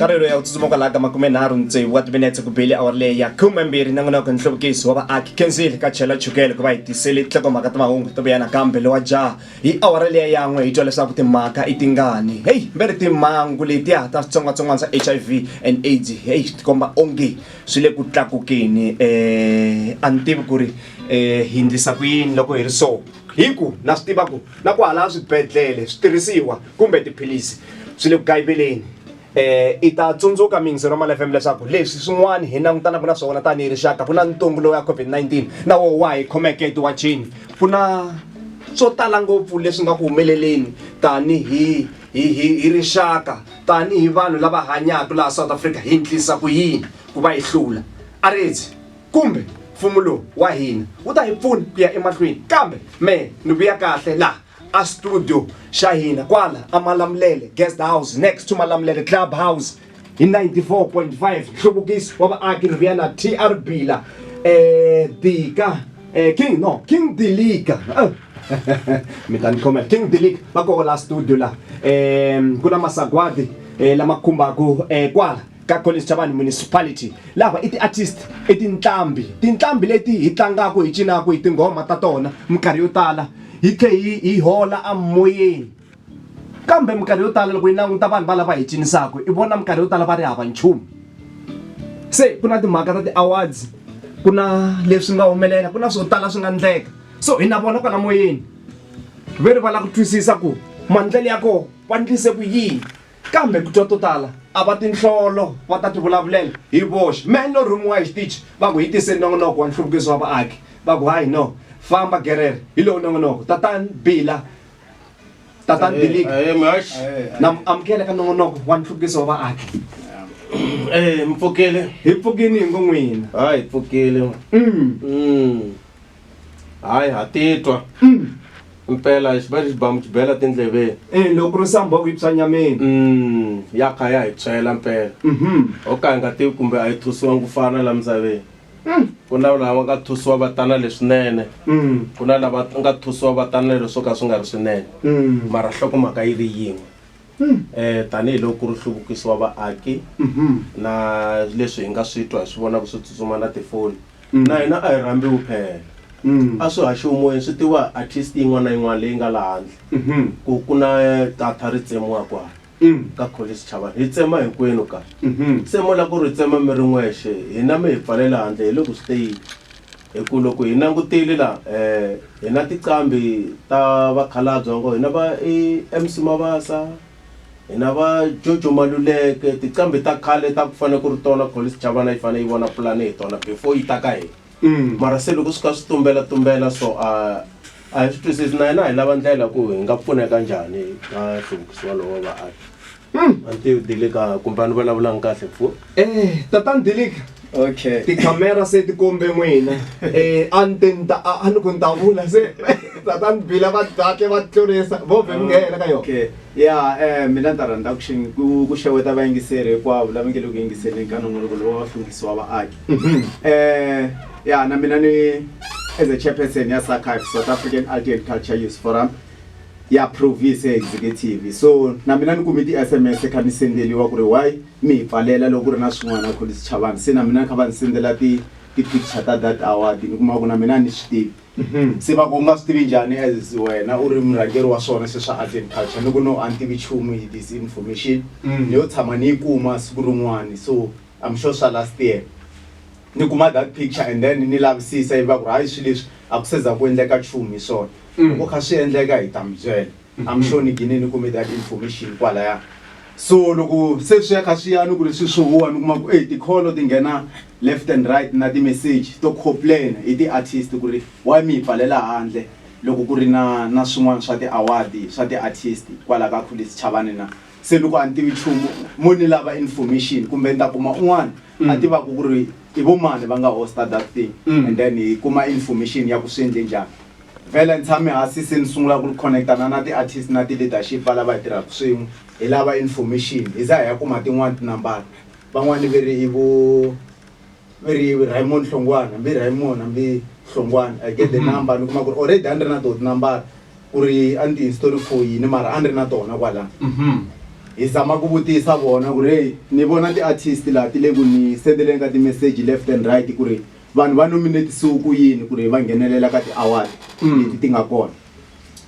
karhelo ya ku tsutsuma kwalaha ka makumenharhu ni tsevu wa timinetse ku bile awara leyi ya khumembirhi na n'winoko nhluvukiso wa vaaki kenzile ka chela chukele ku va hi tisele tinhlokomhaka ta mahungu to vuyana kambe lowa jaha hi awara leya yan'we hi twa leswaku timhaka i tingani heyi mbe ri timhangu letiya ta switsongwatsongwana swa h i v and aids heyi swi tikomba onge swi le ku tlakukeni um a ni tivi ku ri um hi ndlisa ku yini loko hi ri so hi ku na swi tiva ku na ku hala swibedhlele switirhisiwa kumbe tiphilisi swi le ku kayiveleni eh i ta tsundzuka mingizelo mali FM leswaku leswi swin'wana hi langutanaka na swona tanihi rixaka ku na ntungu lowu ya COVID-19 na wo wa hi khomeke etiwachini ku na swo tala ngopfu leswi nga ku humeleleni tanihi hi hi hi rixaka tanihi vanhu lava hanyaka laha South Africa hi ndlisa ku yini ku va hi hlula a ritsi kumbe mfumo lowu wa hina wu ta hi pfuna ku ya emahlweni kambe me ni vuya kahle laha a studio xa hina kwala a malamulele guest house next to malamulele club house hi 94.5 nhluvukiso wa vaaki ni vuya na tr bila eh dika eh king no king dilika eh. mi ta ni khomela king dilika va koho la studio la um ku na masagwadi eh, lama khumbaka eh, kwala ka Collins Chabani Municipality lava i ti-artist i tinqambi tinqambi leti hi tlangaka hi cinaka hi tinghoma ta tona minkarhi yo tala hi tlhe hi hi hola a moyeni kambe minkarhi yo tala loko yi languta vanhu va lava hi cinisaka i vona minkarhi yo tala va ri hava nchumu se ku na timhaka ta ti-awards ku na leswi nga humelela ku na swo tala swi nga ndleka so hi na vona kwala moyeni ve ri va lava ku twisisa ku maendlelo ya kona va ndlise ku yini. Kambe ku twa to tala a va tinhlolo va ta tivulavulela hi voxe. Mehe ni lo rhumiwa hi xitichi va ku hi tise nongonoko wa nhluvukiso wa vaaki va ku hayi no famba gerere hi lowu nongonoko tatani Bila tatani Bilika na mi amukela ka nongonoko wa nhluvukiso wa vaaki hi pfukile hi ngo n'wina. hayi ha titwa mpela hi xiba lexi bamu xibela tindleveni e loko ku ri samboko yi tshwa nyameni Mm, ya kha ya hi tshwela mpela Mhm. o ka hi nga tivi kumbe a yi thusiwangi ku fana la misaveni ku na lava nga thusiwa va tana leswinene Mm. ku na lava nga thusiwa va tana leswo ka swi nga ri swinene Mm. mara nhlokomhaka yi ri yin'we um tanihiloko ku ri nhluvukiso wa vaaki na leswi hi nga swi twa hi swi vonaka swi tsutsuma na tifoni na hina a hi rhambiwi phela a swi haxiwi moyeni swi tiwa hi artist yin'wana na yin'wana leyi nga laha handle ku ku na data ri tsemiwa kwala ka kholi sichavani hi tsema hinkwenu ka se mo la ku ri hi tsema mi ri n'wexe hina mi hi pfalela handle hi le ku swi teyeni Hi ku loko hi langutile la hi na tiqambi ta vakhalabye va ngo hi na va MC Mabasa hi na va Jojo Maluleke tiqambi ta khale ta ku fana ku ri tona Kholice Chavana yi fane yi vona pulani hi tona before yi ta ka hina mara se loko swi kha swi tumbela tumbela so a a hi swi twisisi na hina hi lava ndlela ku hi nga pfuneka njhani ka nhluvukisiwa lowa vaaki. Hmm. Auntie Dilika kumbe ni vulavulanga kahle mfu. Eh, tatani Dilika. Okay. Tikhamera se ti kombe n'wina. Eh, a ni te ni ta a ni ku ni ta vula se tatani Bila va kahle va tlurisa vo vhe mi nghena ka yona. Okay. Ya eh mina ni ta rhandza ku xi- ku ku xeweta vayingiseri hinkwavo lava nge le ku yingiseleni ka nongonoko lowu wa vahluvukisi wa vaaki. Eh ya na mina ni as a chairperson ya SACAF South African Art and Culture Youth Forum ya provice ya executive so na mina ni kume ti sms kha ni sendeliwa ku ri why mi hi pfalela loko ku ri na swin'wana ku lisi chavani se na mina kha va ni sendela ti ti picture ta that award ni kuma ku na mina a ni swi tivi mhm. se va ku nga swi tivi njhani as wena u ri murhangeri wa swona se swa arts and culture ni ku no a ni tivi chumu hi this information mhm. ni yo tshama ni yi kuma siku rin'wani so i'm sure swa last year ni kuma that picture and then ni lavisisa yi va ku ri hayi swi leswi a ku seza ku endleka chumu hi swona Loko kha swi endleka hi ta mi byela. I'm sure ni gine ni kume that information kwalaya. So loko se swi ya kha swi ya ni ku ri swi swi huwa ni kuma ku ey ti-call ti nghena left and right na ti-message to complain hi ti-artist ku ri why mi hi pfalela handle loko ku ri na na swin'wana swa ti-award swa ti-artist kwala ka Khulisi Chavani na. Se ni ku a ni tivi nchumu mo ni lava information kumbe ni ta kuma un'wana a mm. tivaku ku ri i vo mani va nga hosta that thing mm. and then hi kuma information ya ku swi endle njhani vhele ni tshame hasi se ni sungula ku ri connectana na ti-artist na ti-leadership va lava hi tirhaka swin'we hi lava information hi za hi ya kuma tin'wani tinambara van'wani ve ri i vo ve ri raymond hlongwana mbi raymond mbi hlongwana i get the mm-hmm. number ni kuma ku ri already a ni ri na to tinambara ku ri a ni ti-install foyini mara a ni ri na tona kwala mhm. hi zama ku vutisa vona ku ri ni vona ti-artist laha ti le ku ni sendeleni ka ti-message left and right ku ri vanhu va nominatisiwe ku yini ku ri va nghenelela ka ti-award mm. leti ti nga kona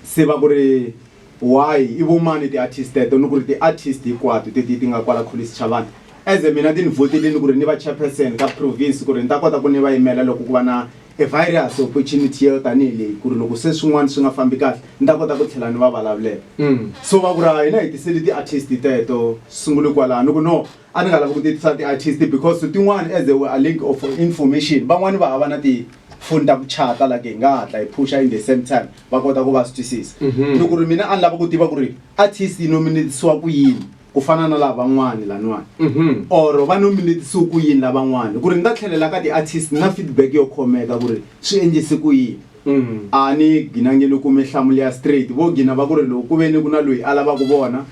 se va ku ri why i vomani ti-artist teto ni ku ri ti-artist hinkwato teti ti nga kwala kholischavana As mina ti ni votelini ku ri ni va chairperson ka province ku ri ni ta kota ku ni va yimela loko ku va na a virus opportunity yo tanihi leyi ku ri loko se swin'wana swi nga fambi kahle ni ta kota ku tlhela ni va vulavulela mm. so va ku ri hina hi tiseli ti-artist teto sungule kwalaho ni ku no a ni nga lavi ku ti tisa ti-artist because tin'wana as a, a link of information van'wani va hava na ti foni ta ku chata like hi nga hatla hi phusha in the same time va kota ku va swi twisisa mm-hmm. ni ku ri mina a ni lava ku tiva ku ri artist yi nominatisiwa ku yini ku fana na lavan'wani laniwani mhm. or va nominetisiwe ku yini lavan'wani ku ri ni ta tlhelela ka ti-artist na feedback yo khomeka ku ri swi endlise ku yini mhm. a ni gina nge ni kume nhlamulo ya straight vo gina va ku ri loko ku ve ni ku na loyi a lavaka vona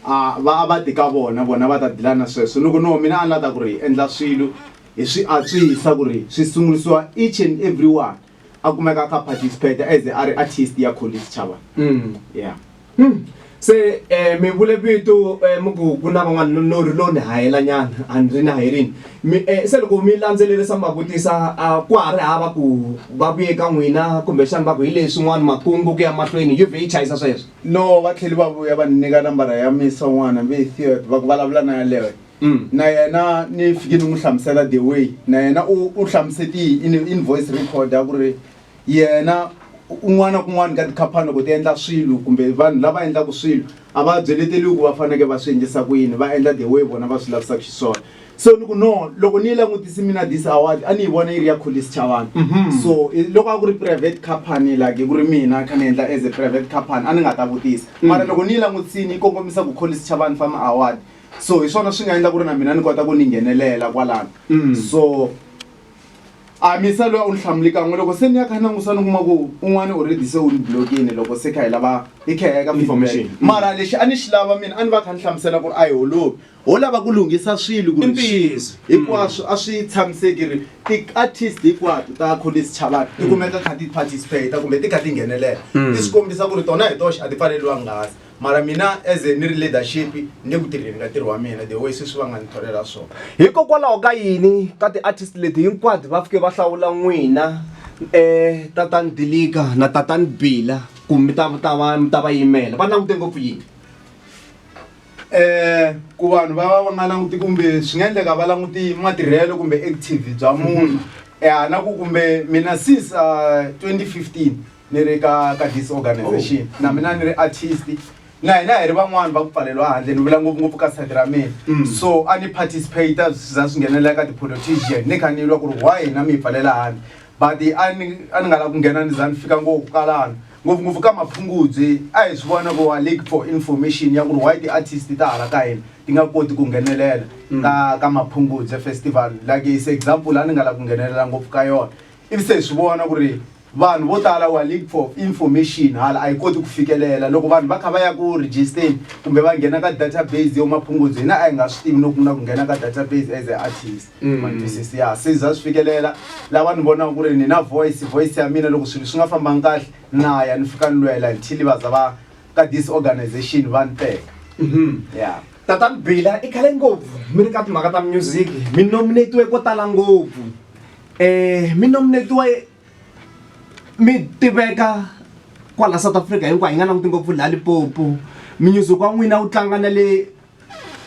a va a va ti ka vona vona va ta dilana sweswo ni ku no mina a ni la ta ku ri hi endla swilo hi swi antswisa ku ri swi sungurisiwa each and every one a kumeka a kha participate as a ri artist ya kholi tshitshavha mm. yeah mm. se um mi vule vito um eh, muku ku na van'wana lo ri lo ni hayela nyana a ni ri ni hayerini mi um se loko mi landzelerisa mi va vutisa a ku ha ri hava ku va vuye ka n'wina kumbexana va ku hi leswi n'wana makungu ku ya mahlweni yuve yi chayisa sweswo no va tlheli va vuya va ni nyika nambara ya misa n'wana mi hi theod va ku vulavula na yaleyo Mm. na yena ni fike ni n'wi hlamusela the way na yena u u hlamusetihi in in voice record a ku ri yena un'wana na kun'wana ka tikhaphani loko ti endla swilo kumbe vanhu lava endlaka swilo a va byeleteliwi ku va faneke va swi endlisa ku yini va endla the way vona va swi lavisaka xiswona so ni ku no loko ni yi langutisi mina this award a ni yi vona yi ri ya kholisi chavana so i- loko a ku ri private company like ku ri mina kha ni endla as a private company a ni nga ta vutisa mara loko ni yi langutisini yi kongomisa ku kholisi chavana fama award so hi swona swi nga endla ku ri na mina ni kota ku ni nghenelela kwalano mm. so a misa loyi a wu ni hlamuli kan'we loko se ni ya kha ni langusa ni kuma ku un'wana already se wu ni blokini loko se kha hi lava hi kha hi ka information mm. mara lexi a ni xi lava mina a ni va kha ni hlamusela ku ri a hi holovi ho lava ku lunghisa swilo ku ntiyiso hinkwaswo a swi tshamiseki ri ti-artist hinkwato ta college chavana ti mm. kumeka kha ti-participate kumbe ti kha ti nghenelela mm. ti swi kombisa ku ri tona hi toxe a ti pfaleriwangasi mara mina as a ni ri leadership ni ku tirheni ka ntirho wa mina the way sweswi va nga ni tholela swona hikokwalaho ka yini ka ti-artist leti hinkwato va fike va hlawula n'wina um eh, tatani dilika na tatani bila ku mi ta ta va mi ta va yimela va langute ngopfu yini eh ku vanhu va va va nga languti kumbe swi nga endleka va languti matirhelo kumbe active bya munhu um na ku kumbe mina since uh, ah, 2015 ni ri ka ka this organization oh. na mina ni ri artist na hina hi ri van'wani va ku pfaleriwa handle ni vula ngopfungopfu ka side ra mina mm. so a ni participate za swi nghenelela ka ti-politician ni kha ni lwa ku ri why hina mi hi pfalela handle but a ni a ni nga lavi ku nghena ni za ni fika ngopfu kalana ngopfungopfu ka maphungudze a hi swi vona ku wa lake for information ya ku ri why ti-artist ta hala ka hina ti nga koti ku nghenelela mm. ka ka maphungudze festival like is example a ni nga lavi ku nghenelela ngopfu ka yona ivi se hi swi vona ku ri Vanhu vo tala wa leak for information hala a yi koti ku fikelela loko vanhu va kha va ya ku register kumbe va nghena ka database yo maphungudzo hina a yi nga swi tivi loko ku na ku nghena ka database as a artist mm. matwisisi ya se za swi fikelela lava ni vonaka ku ri ni na voice voice ya mina loko swilo swi nga fambangi kahle na ya ni fika ni lwela until va za va ka this organization va ni teka mm-hmm. ya tatani bila i khale ngopfu mi ri ka timhaka ta music mi nominatiwe ko tala ngopfu Eh, mi nominetiwa mi tiveka kwala south africa hinkwayo hi nga languti ngopfu laha lipopo minyuzuko wa n'wina wu tlanga na le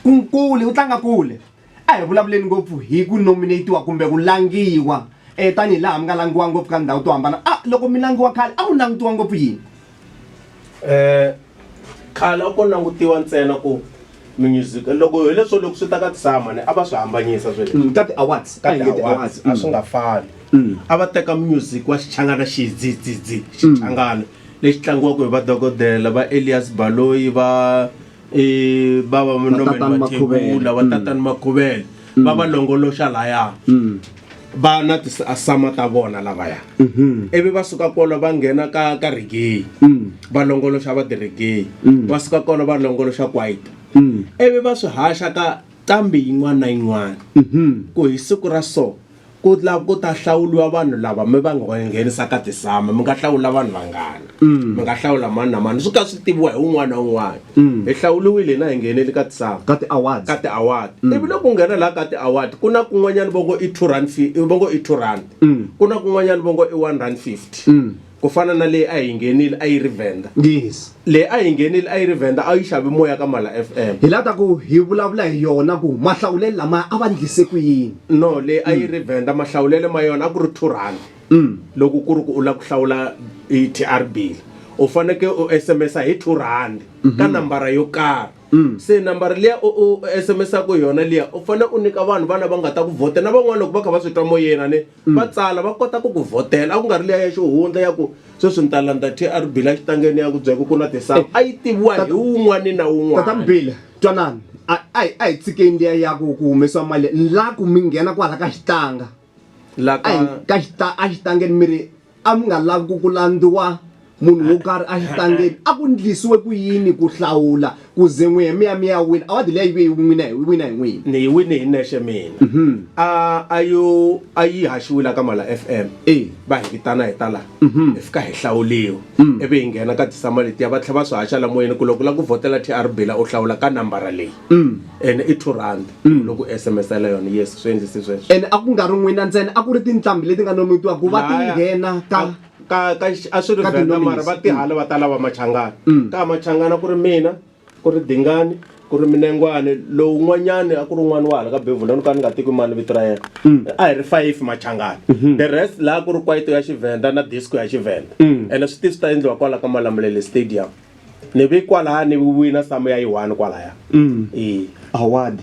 kunkule wu tlanga kule a hi vulavuleni ngopfu hi ku nominatiwa kumbe ku langiwa um tanihi laha mi nga langiwa ngopfu ka ndhawu to hambana a loko mi langiwa khale a ku langutiwa ngopfu yini Eh khale a ko langutiwa ntsena ku music loko hi leswo loko swi ta ka tisama a va swi hambanyisa sweswi mm, ka ti-awards ka ti-awards a swi nga mm. fani mm. a va teka music wa xichangana xidzidzidzi xichangana lexi tlangiwaka hi vadokodela va elias baloyi va eh, va va Vatatani Makhuvele. va tatani makhuvele va va longoloxa laya va na tisama ta vona lavaya ivi va suka kolo va nghena ka ka rigeyi va longoloxa va tirigeyi va suka kolo va longoloxa kwaito ivi va swi haxa ka nqambi yin'wana na yin'wana ku hi siku ra so Ku la ku ta hlawuliwa vanhu lava mi va nga va nghenisaka tisama mi nga hlawula vanhu vangani mi nga hlawula mani na mani swi ka swi tiviwa hi un'wana na un'wana hi hlawuliwile hina hi nghenele ka tisama ka ti-awards ka ti-award ivi loko u nghena laha ka ti-award ku na kun'wanyana va ngo i two rand fi- va ngo i two rand ku na kun'wanyana va ngo i one rand fifty ku fana na leyi a hi nghenile a yi ri venda yes leyi a hi nghenile a yi ri venda a yi xavi moya ka mala fm hi lava ta ku hi vulavula hi yona ku mahlawulelo lamaya a va ndlise ku yini no leyi a yi ri venda mahlawulelo ma yona a ku ri two rand loko ku ri ku u lava ku hlawula i tr bill u faneke u sms hi two rand ka nambara yo karhi se nambara liya u u sms-aku hi yona liya u fanele u nyika vanhu vana va nga ta ku vhota na van'wana loko va kha va swi twa moyeni a ni mm. va tsala va kota ku ku vhotela a ku nga ri leya ya xihundla ya ku sweswi ni ta landza trb la xitangeni ya ku byeka ku na tisawu eh. a yi tiviwa hi wun'wani na wun'wanatatabile twanani a hi tshikeni liya ya ku ku humesiwa mali la ku mi nghena kwala ka xitanga ka xitangeni mi ri A mi nga lavi ku ku landziwa munhu wo karhi exitangeni. A ku ndlisiwe ku yini ku hlawula ku ze n'wi hemiya mi ya wina? Awadi liya yi ve yi wina hi wina hi n'wina. Ni yi wine hi nexe mina. A a yo a yi haxiwe la ka Mala FM, va hi vitana hi ta la hi fika hi hlawuliwa ivi hi nghena ka ti-summer letiya va tlhela va swi haxa la moyeni ku loko u lava ku vhotela TR Bila u hlawula ka nambara leyi. ene i two rand loko u sms-ela yona yes swi endlise sweswo ene a ku nga ri n'wina ntsena a ku ri tinqambi leti nga non'witiwa ku va ti Laya. nghena ka A- ka ka xi- a swi ri ka Venda mara tinominees. va tihala va ta lava machangana ka machangana ku ri mina ku ri dingani ku ri minengwane lowu n'wanyani a ku ri n'wana wa hala ka bevula ni ka ni nga tiki mani vito ra yena a hi ri five machangana the rest laha ku ri kwaito ya xivenda na disco ya xivenda ene swi ti swi ta endliwa kwala ka malamulele stadium ni vi kwalaya ni viwina samu ya yi one kwalaya mm. e award